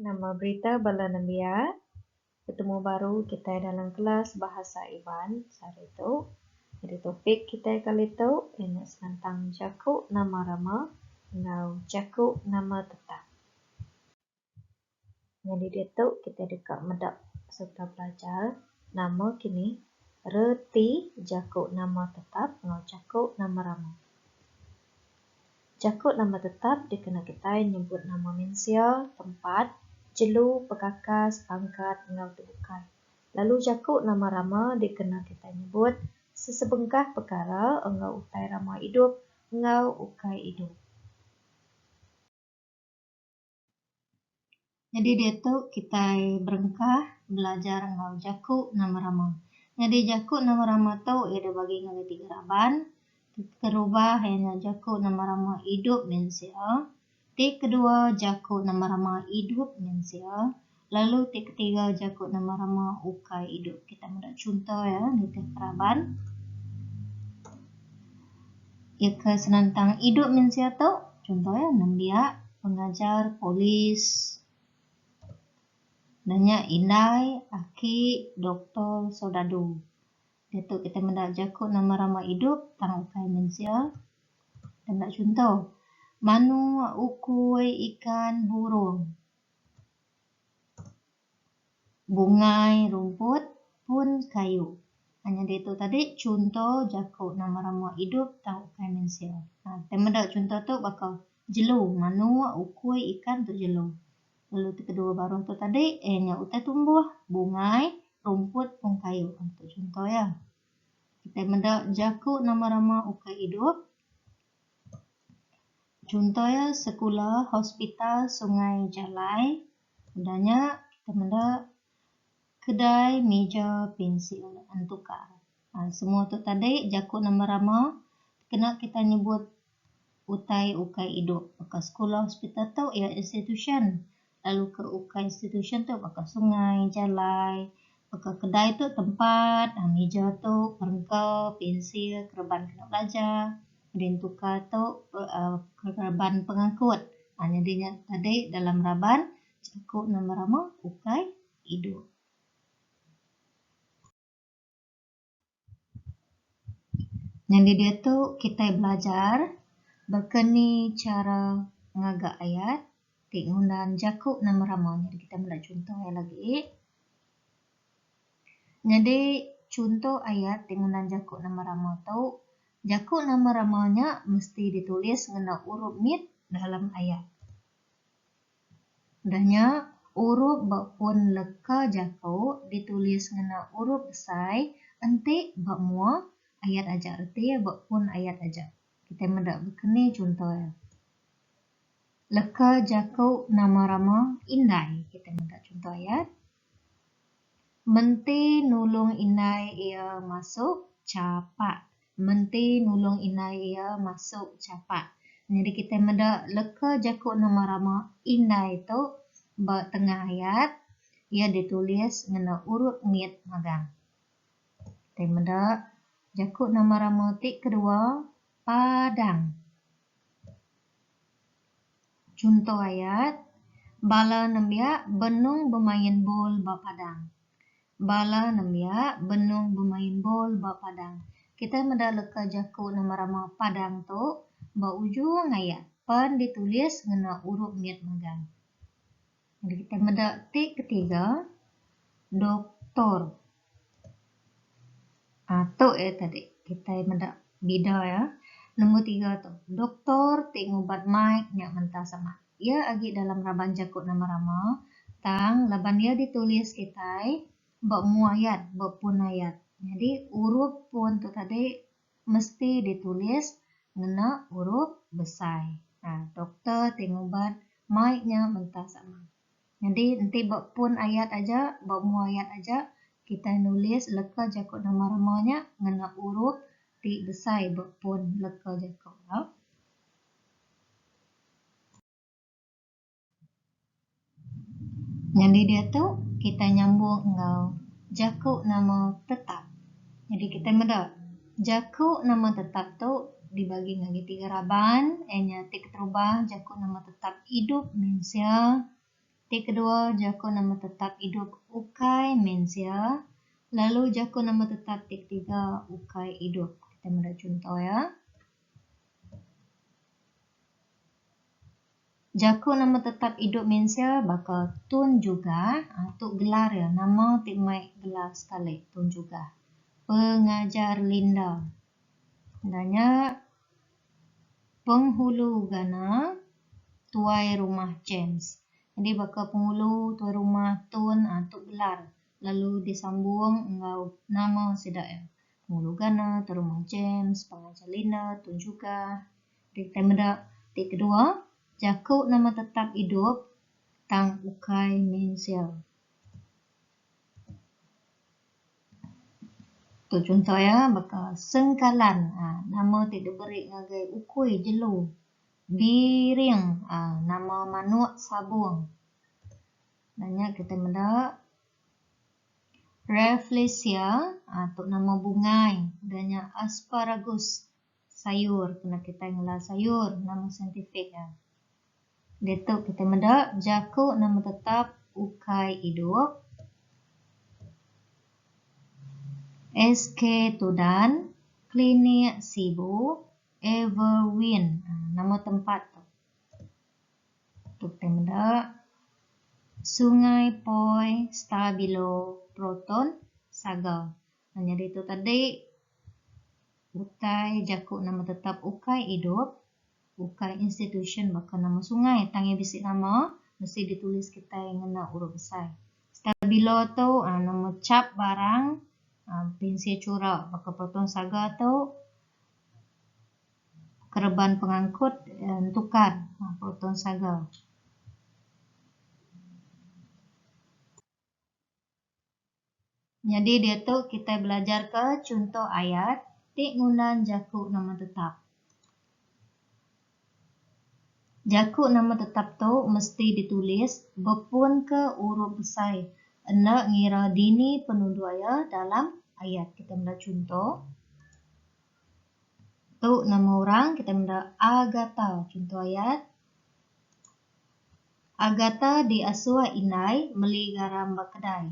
Nama berita bala nembiak betemu baru kitai dalam kelas Bahasa Iban sehari tu? Nyadi topik kitai kali tu iya nya senentang jaku nama rama enggau jaku nama tetap. Nyadi diatu kitai deka meda sereta belajar nama kini, reti jaku nama tetap enggau jaku nama rama. Jaku nama tetap dikena kitai nyebut nama mensia, tempat, jelu, pekakas, pangkat enggau tu bukai. Lalu jaku nama rama dikena kitai nyebut sesebengkah pekara enggau utai rama idup enggau ukai idup. Nyadi diatu kitai berengkah belajar enggau jaku nama rama. Nyadi jaku nama rama tu iya deh bagi ngagai tiga raban. Ti kerubah iya nya jaku nama rama idup mensia. Ti kedua jaku nama rama idup mensia Lalu ti ketiga jaku nama rama ukai idup. Kita meda chunto iya nitih peraban. Iya ke senentang idup mensia tu, chunto iya nembiak, pengajar, polis, da nya indai, aki, doktor, soldadu. Diatu kita meda jaku nama rama idup tang ukai mensia. Kita meda chunto, manuk, ukui, ikan, burung. Bungai rumput pun kayu. Hanya ditu tadi chunto jaku nama rama idup tang ukai mensia. Nah, kitai meda chunto tu baka jelu, manuk, ukui, ikan tu jelu. Lalu ti kedua baruh tu tadi eh nya utai tumbuh, bungai, rumput pun kayu. Ah, tu chunto iya. Kitai meda jaku nama rama ukai idup. Chunto iya sekula, hospital, sungai, jalai. Udah nya kita meda kedai, mija, pensil ngan tukar. Semua tu tadi jaku nama rama kena kita nyebut utai ukai idup. Baka sekula, hospital tu iya institusyen. Lalu ke ukai institusyen tu baka sungai, jalai, baka kedai tu tempat, mija tu perengka, pensil, kereban kena belajar, kemudian tukar tu kereban pengangkut. Nyadi nya tadi dalam raban jaku nama rama ukai idup. Nyadi diatu kitai belajar baka ni chara ngaga ayat ti ngundan jaku nama rama nya kitai meda chunto iya lagi. Nyadi chunto ayat ti ngundan jaku nama rama tu jaku nama rama nya mesti ditulis ngena urup mit dalam ayat. Udah nya, urup ba pun leka jaku ditulis ngena urup besai enti ba mua ayat aja reti ba pun ayat aja. Kitai meda bekeni chunto iya. Leka jaku nama rama indai kitai meda chunto ayat, Menti nulung indai iya masuk chapak. Menti nulung indai iya masuk chapak. Nyadi kitai meda leka jaku nama rama indai tu ba tengah ayat. Iya ditulis ngena urut mit magang. Kitai meda jaku nama rama ti kedua, padang. Chunto ayat, Bala nembiak benung bemain bol ba padang. Bala nembiak benung bemain bol ba padang. Kitai meda leka jaku nama rama padang tu ba ujung ayat pan ditulis ngena urup mit megang. Mari kita meda ti ketiga doktor uhh tu iya tadi kitai meda bida iya. Nombor tiga tu doktor ti ngubat mai nya mentah sama. Iya agi dalam raban jaku nama rama tang laban iya ditulis kitai ba mua ayat ba pun ayat. Jadi urup pun tu tadi Mesti ditulis ngena urup besai. Nah, doktor ti ngubat mai nya mentah sama. Nyadi enti ba pun ayat aja, ba umbu ayat aja, kitai nulis leka jaku nama rama nya ngena urup ti besai ba pun leka jaku. Nyadi diatu kitai nyambung enggau jaku nama tetap. Nyadi kitai meda jaku nama tetap tu dibagi ngagai tiga raban iya nya ti keterubah jaku nama tetap idup mensia, ti kedua jaku nama tetap idup ukai mensia lalu jaku nama tetap ti ketiga ukai idup. Kitai meda chunto iya. Jaku nama tetap idup mensia baka Tun Jugah, tu gelar iya, nama ti mai gelar sekali Tun Jugah, Pengajar Linda. Enda nya Penghulu Gana, Tuai Rumah James. Jadi baka Penghulu, Tuai Rumah, Tun tu gelar lalu disambung enggau nama sida iya. Penghulu Gana, Tuai Rumah James, Pengajar Linda, Tun Jugah. Ti tang meda ti kedua, jaku nama tetap idup tang ukai mensia. Tu chunto iya baka sengkalan aa nama ti diberi ngagai ukui jelu, biring aa nama manuk sabung. Nya nya kitai meda rafflesia aa tu nama bungai dan nya asparagus. sayur kena kitai ngelal sayur nama saintifik iya. Ditu kitai meda jaku nama tetap ukai idup. SK Tudan, Klinik Sibu, Everwin ha, nama tempat tu. Tu kitai meda Sungai Poi, Stabilo, Proton, Saga. Nah nyadi tu tadi utai jaku nama tetap ukai idup, ukai institusyen baka nama sungai tang iya bisi nama mesti ditulis kitai ngena urup besai. Stabilo tu nama chap barang pinsir chura baka proton saga tu kereban pengangkut entukar proton saga. Nyadi diatu kitai belajarka chunto ayat ti ngundan jaku nama tetap. Jaku nama tetap tu mesti ditulis bepunka urup besai enda ngira dini penuduk iya dalam ayat. Kitai meda chunto, Tu nama orang, kitai meda Agatha. Chunto ayat. Agatha diasuh indai meli garam ba kedai.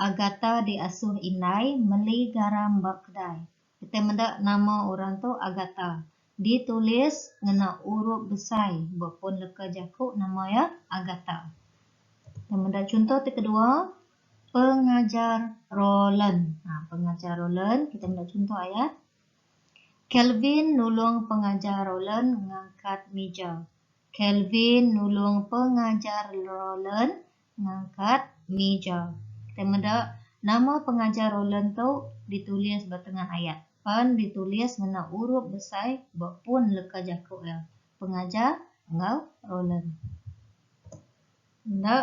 Agatha diasuh indai meli garam ba kedai. Kitai meda nama orang tu Agatha. Ditulis ngena urup besai ba pun leka jaku nama iya Agatha. Kita meda chunto ti kedua pengajar Roland. Pengajar Roland kita meda chunto ayat Kelvin nulung pengajar Roland ngangkat mija. Kelvin nulung pengajar Roland ngangkat mija. Kitai meda nama pengajar Roland tu ditulis ba tengah ayat pan ditulis ngena urup besai ba pun leka jaku iya, pengajar enggau Roland. Enda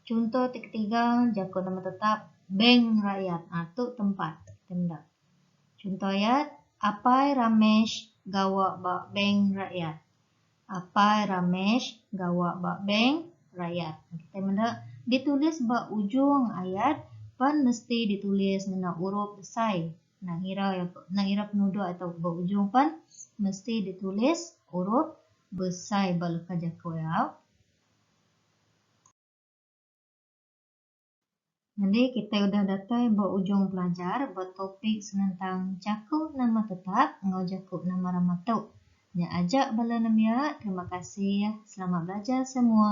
chunto ti ketiga, jaku nama tetap, bank rakyat. Tu tempat kitai meda. Chunto ayat, Apai Ramesh gawa ba bank rakyat. Apai Ramesh gawa ba bank rakyat. Kitai meda ditulis ba ujung ayat pan mesti ditulis ngena urup besai. Enda ngira enda ngira penuduk atau ba ujung pan mesti ditulis urup besai ba leka jaku iya. Nyadi kitai udah datai ba ujung pelajar ba topik senentang jaku nama tetap enggau jaku nama rama tu. Nya aja bala nembiak, terima kasih. Selamat belajar semua.